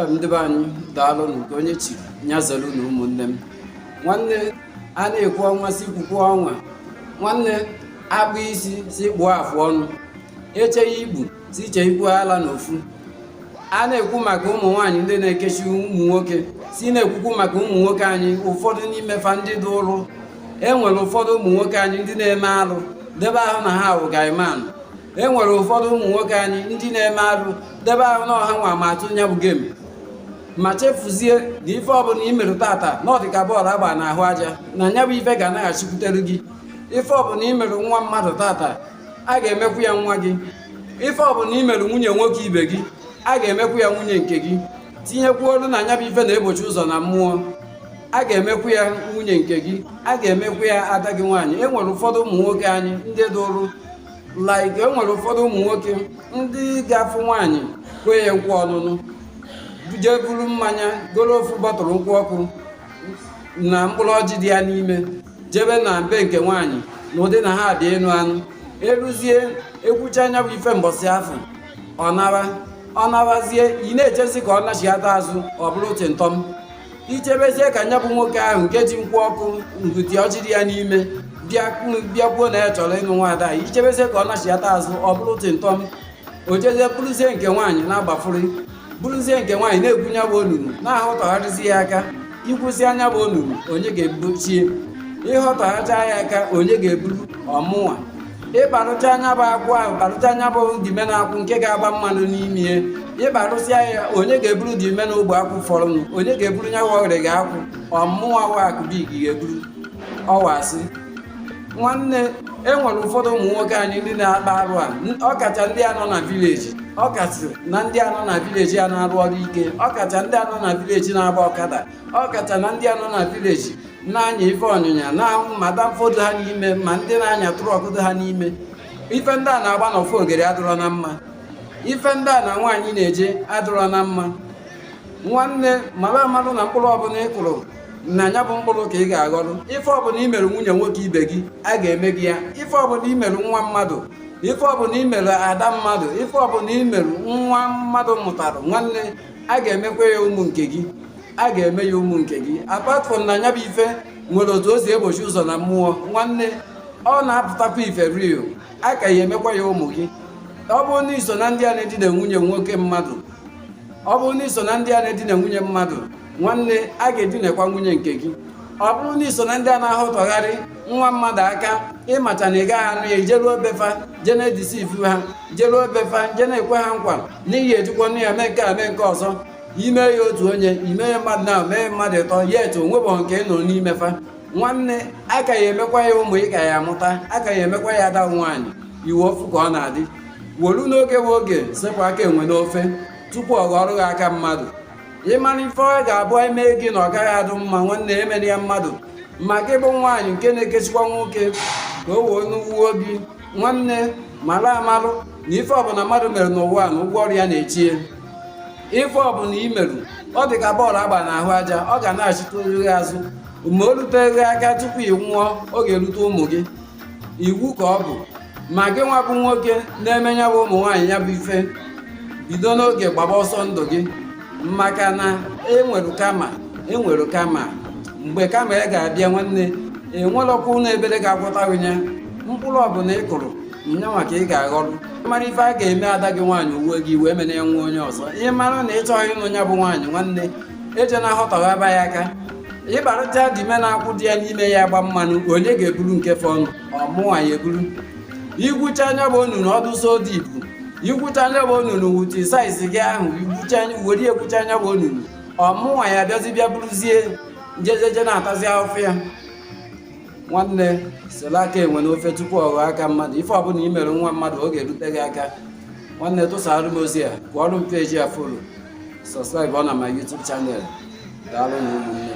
ndị be anyị daalụ nke onye chiri nya zelu na ụmụnne m nwanne a na-ekwu ọnwa si kwukwu ọnwa nwanne akpụ isi si kpụọ afụ ọnụ echeghị igbu si iche ikpu ala na ofu a na-ekwu maka ụmụ nwaanyị ndị na-ekechi ụmụ nwoke si na-ekwukwu maka ụmụ nwoke anyị ụfọdụ n'ime fa ndị dị ụrụ e nwere ụfọdụ ụmụ nwoke anyị ndị na-eme alụ debe ahụ na ha wụ guy man e nwere ụfọdụ ụmụ nwoke anyị ndị na-eme arụ debe ahụ na ọ hanwa ma atụ nya bụ game ma chefuzie na ife ọbụla i mere taata na ọ dịka bọọlụ agba n'ahụ aja na nya bụ ife ga-anaghachikwutere gị ife ọbụla i mere nwa mmadụ taata a ga-emekwu ya nwa gị ife ọbụla i mere nwunye nwoke ibe gị a ga-emekwu ya nwunye nke gị tinyekwuolu na nya bụ ife na-egbochi ụzọ na mmụọ a ga-emekwu ya nwunye nke gị a ga-emekwu ya ada gị nwaanyị e nwere ụfọdụ ụmụ nwoke anyị ndị dị ụrụ like e nwere ụfọdụ ụmụ nwoke ndị ga-afụ nwaanyị kwee ya nkwa ọnụnụ jee buru mmanya goro ofu bọtụlụ nkwụ ọkụ na mkpụrụ ọjị dị ya n'ime jebe na be nke nwaanyị na ụdị na ha dị enu anụ eruzie e kwuchaa nya bụ ife mbọsị afụ ọ nawa ọ nawazie ị na-echezi ka ọ nachighata azụ ọ bụrụ tịntọm i chebezie ka nya bụ nwoke ahụ nke ji nkwụ ọkụ ngụti ọjị dị ya n'ime bịa kwuo na ya chọrọ ịnụ nwaada i chebezie ka ọ nachighata azụ ọ bụrụ tịntọm o jezie bụrụzie nke nwaanyị na-agbafụrị bụrụzie nke nwaanyị na-egwu nya bụ onunu na-ahụtọgharịzi ya aka i gwusịa nya bụ onunu onye ga-ebuchie ị họtọghachaa ya aka onye ga-eburu ọ mụnwa ị kparụchaa nya bụ akwụ ahụ kparụchaa nya bụ dime na akwụ nke ga-agba mmanụ n'ime ya ị kparụsịa ya onye ga-eburu dime na ogbe akwụ fọrọnụ onye ga-eburu nya wụ ọgịrịga akwụ ọ mụwa wakụbi gị ga-eburu ọwasị nwanne e nwere ụfọdụ ụmụ nwoke anyị ndị na-akpa arụ a ọkacha ndị a nọ na vileji ọkacha na ndị a nọ na vileji a na-arụ ọrụ ike ọkacha ndị a nọ na vileji na-agba ọkada ọ kacha na ndị a nọ na vileji na-anya ife ọnyịnya na-ahụ ma danfo dị ha n'ime ma ndị na-anya trọkụ dị ha n'ime ife ndị a na-agba n'ofe ogere adịrọ na mma ife ndị a na nwaanyị na-eje adịrọ na mma nwanne mara amalụ na mkpụrụ ọbụla ị kụrụ na nya bụ mkpụrụ ka ị ga-aghọrọ ife ọbụla i mere nwunye nwoke ibe gị a ga-eme gị ya ife ọbụla i mere nwa mmadụ ife ọbụla i mere ada mmadụ ife ọbụla i mere nwa mmadụ mụtara nwanne a ga-emekwa ya ụmụ nke gị a ga-eme ya ụmụ nke gị apart from na nya bụ ife nwere otu o si egbochi ụzọ na mmụọ nwanne ọ na-apụtakwa ife real a ka ya emekwa ya ụmụ gị ọ bụrụ na i so na ndị a na-edina nwunye nwoke mmadụ ọ bụrụ na i so na ndị a na-edina nwunye mmadụ nwanne a ga-edinekwa nwunye nke gị ọ bụrụ na i so na ndị a na-ahụtọgharị nwa mmadụ aka ị macha na ị gaghị anụ ya i jeruo be fa je na-edeceive ha jeruo be fa je na-ekwe ha nkwa n'ihi ejikwa nne ya mee nke a mee nke ọzọ i mee ya otu onye i mee ya mmadụ na mee mmadụ ịtọ yet o nwebọ nke ị nụrụ n'ime fa nwanne a ka ya-emekwa ya ụmụ ị ka ya-amụta a ka ya-emekwa ya ada nwaanyị i nwe ofu ka ọ na-adị wolu n'oge bụ oge sepụ aka enwe n'ofe tupu ọ ghọrọ gị aka mmadụ ị mara ife ọ ga-abụ e mee gị na ọ gaghị adụ mma nwanne emena ya mmadụ ma gị bụ nwaanyị nke na-ekechikwa nwoke ka o wee n'uwe obi nwanne mara amalụ na ife ọbụla mmadụ mere n'ụwa na ụgwọ ọrụ ya na-eche ya ife ọbụla i meru ọ dị ka bọọlụ a gba n'ahụ aja ọ ga-anachita gị azụ ma o ruteghị aka tupu ị nwụọ ọ ga-erute ụmụ gị iwu ka ọ bụ ma gị nwa bụ nwoke na-eme ya bụ ụmụ nwaanyị ya bụ ife bido n'oge gbaba ọsọ ndụ gị maka na e nwere karma e nwere karma mgbe karma ya ga-abịa nwanne e nwerọkwa ụlọ ekpere ga-agwọta gị ya mkpụrụ ọbụla ị kụrụ nyanwa ka ị ga-aghọrọ mara ife a ga-eme ada gị nwaanyị o wee gị iwe emena ya nwa onye ọzọ ị mara na ị chọghị ịnụ ya bụ nwaanyị nwanne ejena ahọtọghaba ya aka ị gbarụcha dime na-akwụ dị ya n'ime ya gba mmanụ onye ga-eburu nke fọnụ ọ mụnwa ya-eburu i gwucha nya bụ onunu ọ dụ so dị ibu i gwucha nya bụ onunu with size gị ahụ were gwucha nya bụ onunu ọ mụnwa ya-abịazi bịa bụrụzie jejeje na-atazi afụfụ ya nwanne sela aka enwe n'ofe tupu ọ ghọọ aka mmadụ ife ọbụla i mere nwa mmadụ ọ ga-erute gị aka nwanne tụsara m ozi a kụọrụ m page a follow subscribe ọ na my YouTube channel daalụ nụ ụmụnne